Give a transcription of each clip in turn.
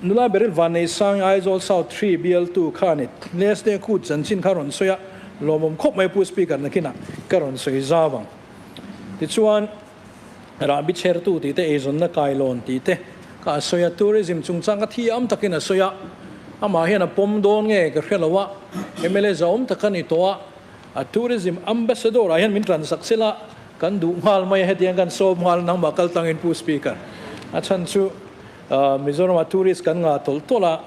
Nula Beryl Vanneisanga Aizawl South Three Bial tu kha a ni. Last day kut chanchin kha a rawn sawi a, lawmawm khawp mai pu speaker nakin ah ka rawn sawi zau ang. Tichuan Rahbi chher tu tih te eizawnna kai lawn tih te kha a sawi a, tourism chung chang kha thiam takin a sawi a, amah hian a pawm dawn nge ka hre lo a, mla zawm tak a ni tawh a. A Tourism Ambassador ah hian min transak sila, kan duh nghal mai a hetiang kan sawm nghal a nangmah kal tangin Pu Speaker a chhan chu Mizoram ah tourist kan ngah tawlh tawlh a,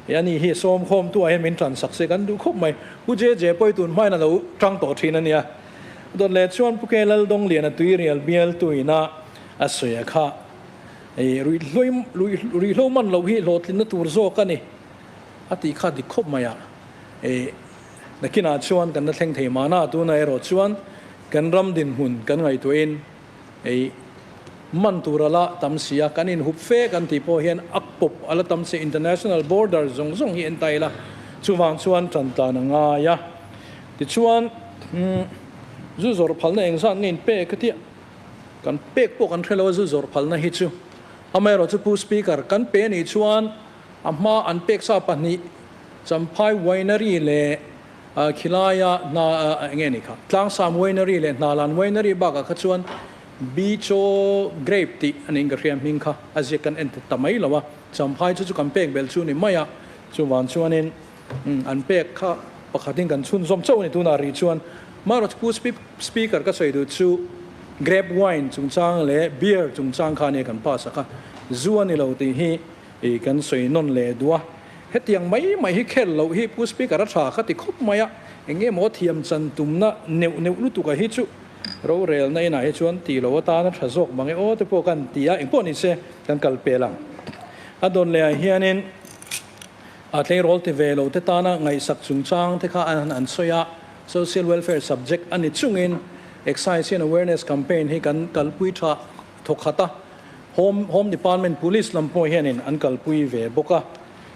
i anih hi sawm khawm tu ah hian min transak se kan duh khawp mai. Pu JJ pawi tun hmain a lo tang tawh thin a nia. Dawtleh chuan Pu Kelal Donglian a tuirial bialtu in a a sawi a kha i ruihhlui ruihhlo man lo hi hlawhtlinna tur zawk a ni a tih kha dik khawp mai a. Nakinah chuan kan la thleng thei mahna tuna erawh chuan kan ram dinhmun kan ngaihtuahin hei man tur a la tam si a, kan inhup fe kan tih pawh hian a kawp a la tam si a, international border zawng zawng hi a entir ila chuvang chuan tantlan a ngai a. Tichuan zu zawrh phalna eng zat nge in pek ka tia, kan pek pawh kan hre lo a zu zawrh phalna hi chu. Amaherawhchu Pu Speaker, kan pe a nih chuan, A hma an peksa pahnih Champhai Winery leh Khilaia hna nge ni kha? Tlangsam Winery leh Hnalan Winery bakah kha chuan Bicho Grape tih an inka hria hming kha a ziak kan en ta mai lo a, Champhai chu chu kan pek bel chu ni mai a. Chuvan chuanin an pek kha pakhatin kan chhunzawm chauh a ni tunah ri chuan Maharaj pu Speaker ka sawi duh chu Grape Wine chungchang leh Beer chungchang khan hi kan pass a kha zu a ni lo tih hi Tih kan sawi nawn leh duh a, hetiang mai mai hi khel loh hi Pu Speaker a tha kha ti khawp mai a, eng nge maw thiam chan tumna neuh neuh lutuk a hi chu rorelna inah hi chuan ti lo atana tha zawk mang e aw te pawh kan ti a, engpawh ni che kan kal pel ang. A dawn leh ah hianin a tleirawl ti ve lo te tana ngaihsak chungchang te kha an an sawi a, Social Welfare subject a ni chungin Excise and Awareness Campaign hi kan kalpui tha. Thawkhata Home Home Department Police lam pawh hianin an kalpui ve bawk a,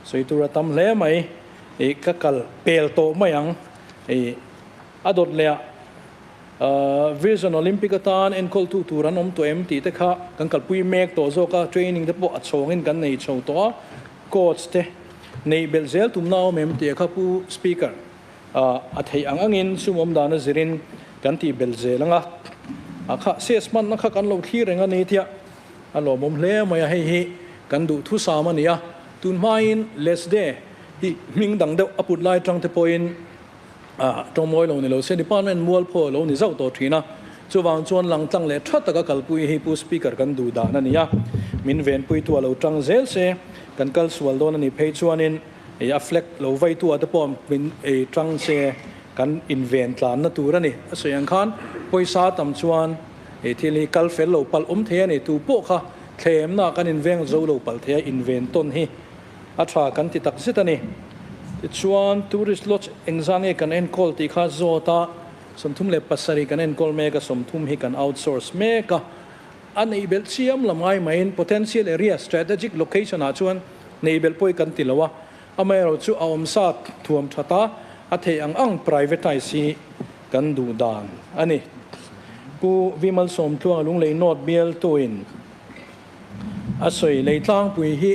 sawi tur a tam hle mai, ih ka kal pel tawh mai ang, ih a dawt lehah uh Virgin Olympic atan enkawltu tur an awm tawh em tih te kha kan kalpui mek tawh zawk a, training te pawh a chhawngin kan nei chho tawh a, coach te neih belh zel tumna a awm em tih a kha Pu Speaker. ah a theih ang angin sumawm dan a zirin kan tih belh zel anga a kha size hmanna kha kan lo thlir reng a ni tia a lawmawm hle mai a hei hi kan duh thusam a nia tun hmain less de hi hming dang deuh a put lai tang te pawhin ah tawngmawi lo ni lo se department mual pho a lo ni zauh tawh thin a chuvang chuan lang tlang leh tha taka kalpui hi pu speaker kan duh dan a nia min venpuitu a lo tang zel se kan kal sual dawn a ni phei chuanin Hei a flag lo vaitua te pawh min ei tang se kan inven tlanna tur a ni. A sawi ang khan pawisa tam chuan he thil hi kal fel lo palh awm thei a ni. Tu pawh kha thlemna kan inveng zo lo palh theia inven tawn hi a tha kan ti tak zet a ni. Tichuan Tourist Lodge engzah nge kan enkawl tih kha zawta sawmthum leh pasarih kan enkawl mek a, sawmthum hi kan outsource mek a, A neih belh chiam lam ngai mahin Potential Area, Strategic Location ah chuan neih belh pawh hi kan ti lo a, amaherawh chu a awm sa thuam tha ta, a theih ang ang privatise hi kan duh dan a ni. Pu Vimal Sawmtluanga lunglei note bial tuin a sawi, Lei Tlangpui hi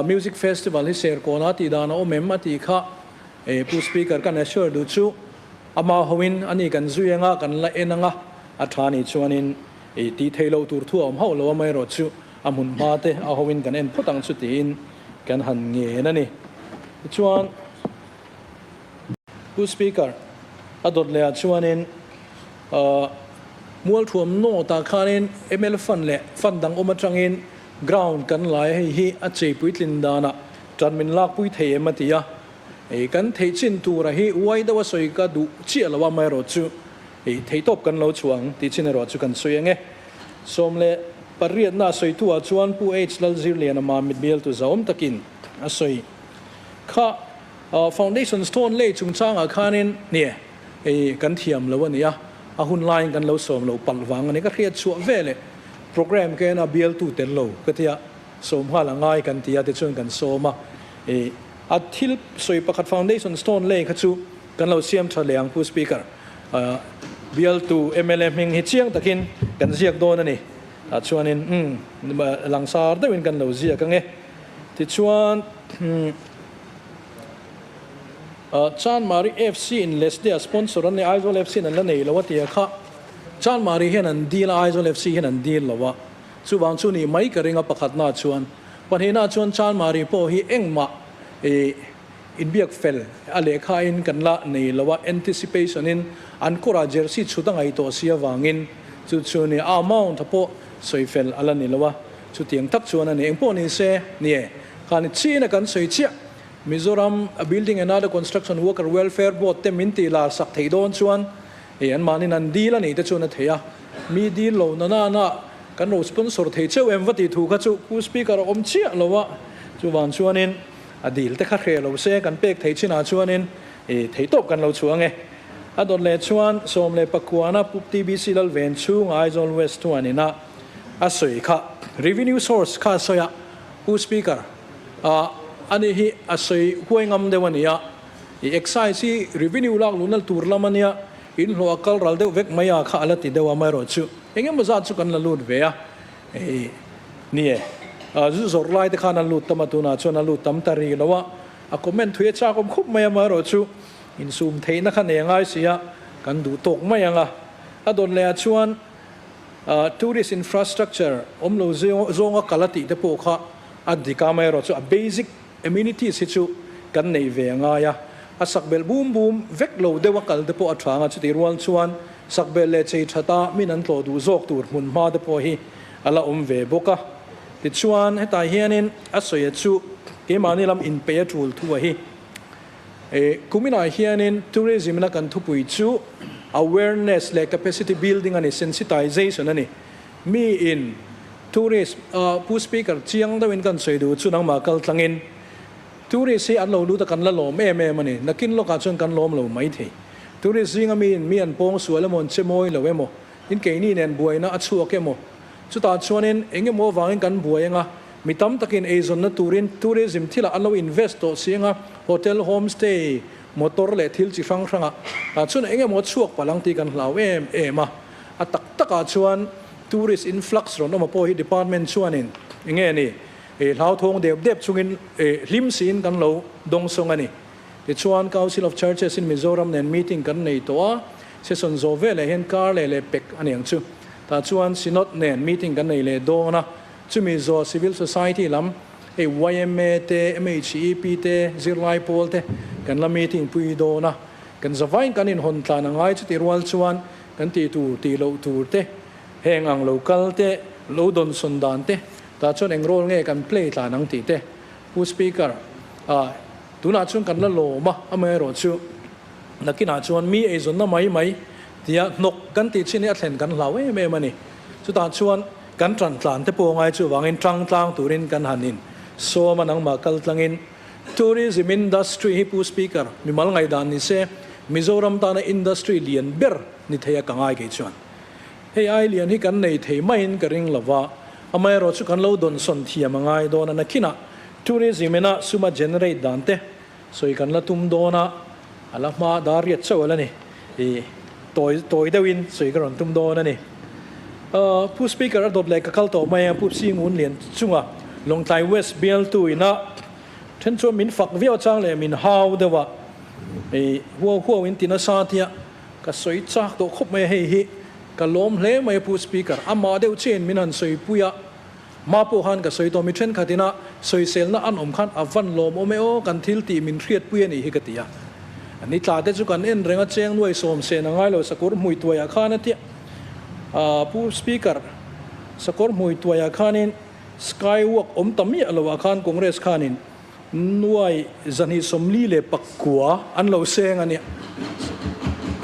Music Festival hi Serkawnah tih dan a awm em a tih kha Pu Speaker kan assure duh chu, Amah hoin a nih kan zui anga kan la en anga a tha nih chuanin ih ti thei lo tur thu a awm hauh lo a maierawh chu a hmun hma te a ho in kan en phawt ang chu tiin kan han ngen a ni. Tichuan Pu Speaker a dawt lehah chuanin ah Mualthuam North ah khanin ml fund leh fund dang awm atangin ground kan lai hei hi a chei puitlin danah tanmin lakpui thei em a ti a. Ih kan theih chin tura hi uai deuha sawi ka duh chiah lo a mah erawh chu ih thei tawp kan lo chhuah ang tih chin erawh chu kan sawi ang e. Sawm leh pariatna a sawi tu ah chuan Pu H Lalzirliana mah mit bial tu zaawm takin a sawi kha ah foundation stone lei chung chang ah khanin hniah ih kan thiam lo a ni a, a hun lai in kan lo sawm lo palh vang a ni ka hriat chhuah ve leh program kena bial tu tel lo ka tia sawm nghal a ngai kan tia te chuan kan sawm a ih. A thil sawi pakhat foundation stone lei kha chu kan lo siam tha leh ang Pu Speaker. Bialtu mla hming hi chiang takin kan ziak dawn a ni. Tah chuanin umm langsar deuhin kan lo ziak ang e. Tichuan Chanmari FC in Leslia sponsor an nih Aizawl FC in an la nei lo a tia kha Chanmari hian an deal a Aizawl FC hian an deal lo a. Chuvang chu nih mai ka ring a pakhatnaah chuan Pahnihna chuan Chanmari pawh hi engmah ih inbiak fel a lehkhain kan la nei lo a, anticipation in an kawrah jersey chhut a ngaih tawh si avangin chu chu ni a amount a pawh sawi fel a la ni lo a, chutiang tak chuan a ni. Engpawh ni se ni e, khani chiin a kan sawi chiah, Mizoram Building and Other Construction Worker Welfare Board te min tih larsak theih dawn chuan, Hei anmahnin an deal a nih te chuan a thei a, mi deal lo na nanah kan rawn sponsor thei cheu em va tih thu kha chu Pu Speaker a awm chiah lo a, chuvang chuanin a deal te kha hre lo se kan pek thei chinah chuanin thei tawp kan lo chhuang e. A dawt leh chuan sawm leh pakuana Pup TBC lal ven chhunga Aizawl West thuanin a a sawi kha revenue source kha a sawi a, Pu Speaker a a nih hi a sawi huai ngam deuh a ni a, I excise hi revenue lak luhnal tur lam a nia, in hlawh a kal ral deuh vek mai a kha a la ti deuh a, amaherawh chu eng emaw zat chu kan la lut ve a ni e. Zu zawrh lai te khan an lut tam a tunah chuan a lut tam ta ri lo a, a comment thui a chakawm khawp mai a, amaherawh chu in sum theihna kha nei a ngai si a, kan duh tawk mai ang a. A dawn leh ah chuan tourist infrastructure awmlo zing zawng a kal a tih te pawh kha a dik a, amaherawh chu a basic. Amenities hi chu kan neih ve a ngai a, a sak bel bum bum vek lo deuh a kalte pawh a thang a, chutih rual chuan sak bel leh chei that a min an tlawh duh zawk tur hmun hma te pawh hi a la awm ve bawk a. Tichuan hetah hianin a sawia chu keimahni lam inpeih a tul thu a hi eh kuminah hianin tourism ina kan thupui chu awareness leh capacity building a ni, sensitization a ni. Mi in tourist a Pu Speaker chiang deuh in kan sawi duh chu nangmah kal tlang in tourist hi an lo lut a kan la lawm em em a ni. Nakin lawk ah chuan kan lawm lo mai thei. Tourist zing a mi in mi an pawng sual emaw an che mawi lo emaw in keini nen buai na a chhuak emaw chu tah chuan in eng emaw avang in kan buai eng a mi tam tak in ei zawn na tur in tourism thil ah an lo invest tawh si eng a hotel home stay motor leh thil chi hrang hrang ah tah chuan eng emaw chhuak palang tih kan hlau em em a. A tak takah chuan tourist influx rawn awm a pawh hi department chuanin eng nge ni ih hlauthawng dep dep chungin ih hlim siin kan lo dawng sawng a ni. Tichuan Council of Churches in Mizoram nen meeting kan nei tawh a, session zawh veleh hian kar leh leh pek a ni ang chu. Tah chuan Synod nen meeting kan nei leh dawn a, chumi zawh Civil Society lam hei yma te, MHEP te, zirlai pawl te kan la meeting pui dawn a, kan za vain kan inhawn tlan a ngai chu tih rual chuan, Kan tih tur tih loh tur te, heng ang lo kal te, lo dawn sawn dan te tah chuan eng role nge kan play tlan ang tih te Pu Speaker ah tunah chuan kan la lawm a, amaherawh chu nakinah chuan mi eizawnna mai mai tia hnawk kan tih chin hi a thlen kan hlau em em a ni. Chutah chuan kan tan tlan te pawh a ngai chu avangin tangtlang turin kan han in sawm a nangmah kaltlangin. Tourism industry hi Pu Speaker mi mal ngaih dan ni se Mizoram tana industry lian ber ni thei a ka ngai kei chuan hei ai lian hi kan nei thei mai in ka ring lo va amaherawh chu kan lo dawn sawn thiam a ngai dawn a na khin ah Tourism in a sum a generate dan te sawi kan la tum dawn a a la hma dar riat chauh a la ni. I tawi tawi deuh in sawi ka rawn tum dawn a ni. Aw, Pu Speaker a dawt leh ka kal tawh mai a, Pu Sing Un lian chunga Lawngtlai West bialtu ina then chuan min fak viau a chang leh min hau deuh a, I huau huau in tina sa tia ka sawi chak tawh khawp mai a, hei hi ka lawm hle mai a Pu Speaker, amah deuh che in min han sawi pui a. Mah pawh khan ka sawi tawh mi thenkhat ina sawiselna an awm khan a van lawm awm e aw kan thil tih min hriatpui a nih hi ka ti a. An i tla te chu kan en reng a cheng nuai sawm seh na ngailo sakawr hmui tuai ah khan a ti a. Aah pu speaker sakawr hmui tuai ah khanin skywalk awm ta miah lo ah khan congress khanin. Nuai Zahnih Sawmli leh Pakkua an lo seng a nih.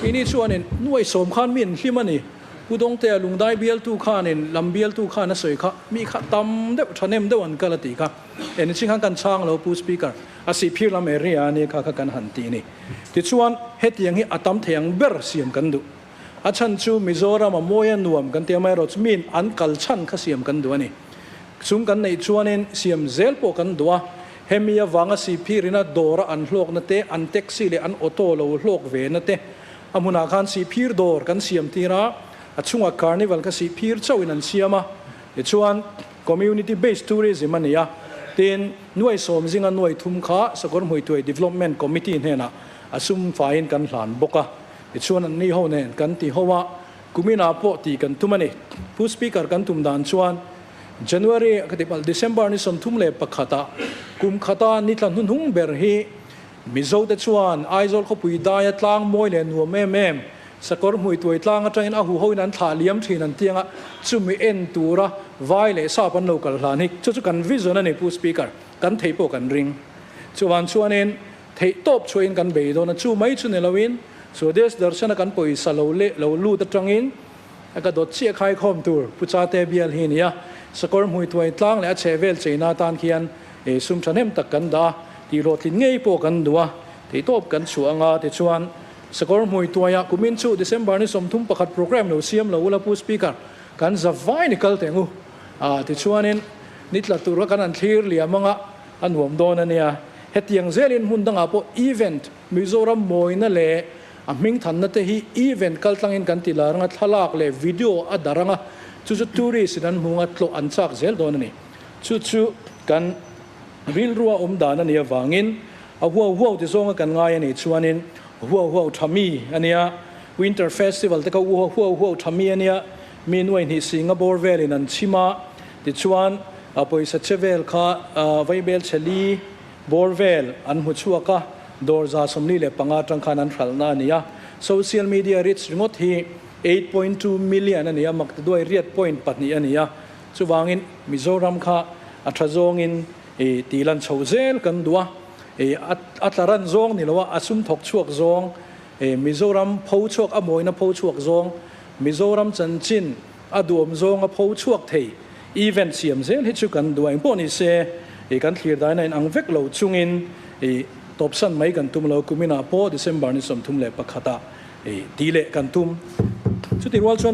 I nih chuanin Nuai Sawm khan mi an hlim a ni. Pu Dawngtea lungdai bialtu khanin lam bialtu khan a sawi kha mi kha tam deuh thahnem deuh an kal a tih kha eni chi khan kan chhang lo Pu Speaker. A sihphir lam area ania kha kha kan han ti a ni. Tichuan hetiang hi a tam thei ang ber siam kan duh. A chhan chu Mizoram a mawi a nuam kan tia mai rawh chu min an kal chhan kha siam kan duh a ni. Chung kan neih chuanin siam zel pawh kan duh a, hemi avanga siphi rina dawr a an hlawk na te, an taxi leh an auto lo hlawk ve na te a hmunah khan sihphir dawr kan siam tir a, a chungah carnival kha sihphir chauh in an siam a, tichuan community based tourism a ni a, tin Nuai Sawmzinga nuai thum kha Sakawr Hmuituai Development Committee hnenah a sum faiin kan hlan bawk a, I chuan an ni ho nen kan ti ho a, kuminah pawh tih kan tum a ni. Pu Speaker kan tum dan chuan January ka ti palh December ni sawmthum leh pakhata kum khata ni tla hnuhnung ber hi Mizo te chuan Aizawl khawpui daia tlang mawi leh nuam em em sakawr hmui tuai tlang atangin a huhoin an thlah liam thin an tiang a, chumi en tura vai leh sap an lo kal hlan hi chu chu kan vision a ni Pu Speaker, kan thei pawh kan ring. Chuvang chuanin Theih tawp chhuahin kan bei dawn a, chu mai chu ni loin Swadesh Darshan-a kan pawisa lo leh lo lut atangin a ka dawt chiah khaikhawm tur Pu Chate bial hi a ni a. Sakawr hmuithuai tlang leh a chhehvel cheina atan khian e sum thahnem tak kan dah a, tihhlawhtlin ngei pawh kan duh a, theih tawp kan chhuah anga tichuan Sakawr hmuituaia kumin chu December ni sawmthum pakhat programme lo siam lo ula Pu Speaker, kan za vai ni kal teng u a tichuanin ni tla tura kan an thlir liam anga, A nuam dawn a nia. Hetiang zelin hmun dangah pawh event, Mizoram mawina leh a hming thanna te hi event kaltlangin kan ti lar anga thlalak leh video a dar anga chu chu tourist in an hmunga tlawh an chak zel dawn a ni. Chu chu kan rilrua awm dan a nih avangin a huau huau ti zawnga kan ngai a nih chuanin huau huau tha mi a nia. Winter festival te kha huau huau tha mi a nia. Mi nuai hnih singa bawr velin an chim a, tichuan a pawisa che vel kha Vaibel Chheli bawr vel an hmu chhuak a, dawrza sawmli leh panga atang khan an hralhna a ni a. Social media reach ringawt hi eight point two million a ni a, mak tiduai riat point pahnih a ni a, chuvangin Mizoram kha a tha zawngin ti lan chho zel kan duh a, a tla ran zawng ni loh a, a sum thawk chhuak zawng He Mizoram pho chhuak a mawina pho chhuak zawng, Mizoram chanchin a duam zawnga pho chhuak thei event siam zel hi chu kan duai nghawh ni se, kan thlirdaiin a inang vek lo chungin tawpsan mai kan tum lo, kuminah pawh December ni sawmthum leh pakhatah ti leh kan tum. Chutirual chuan.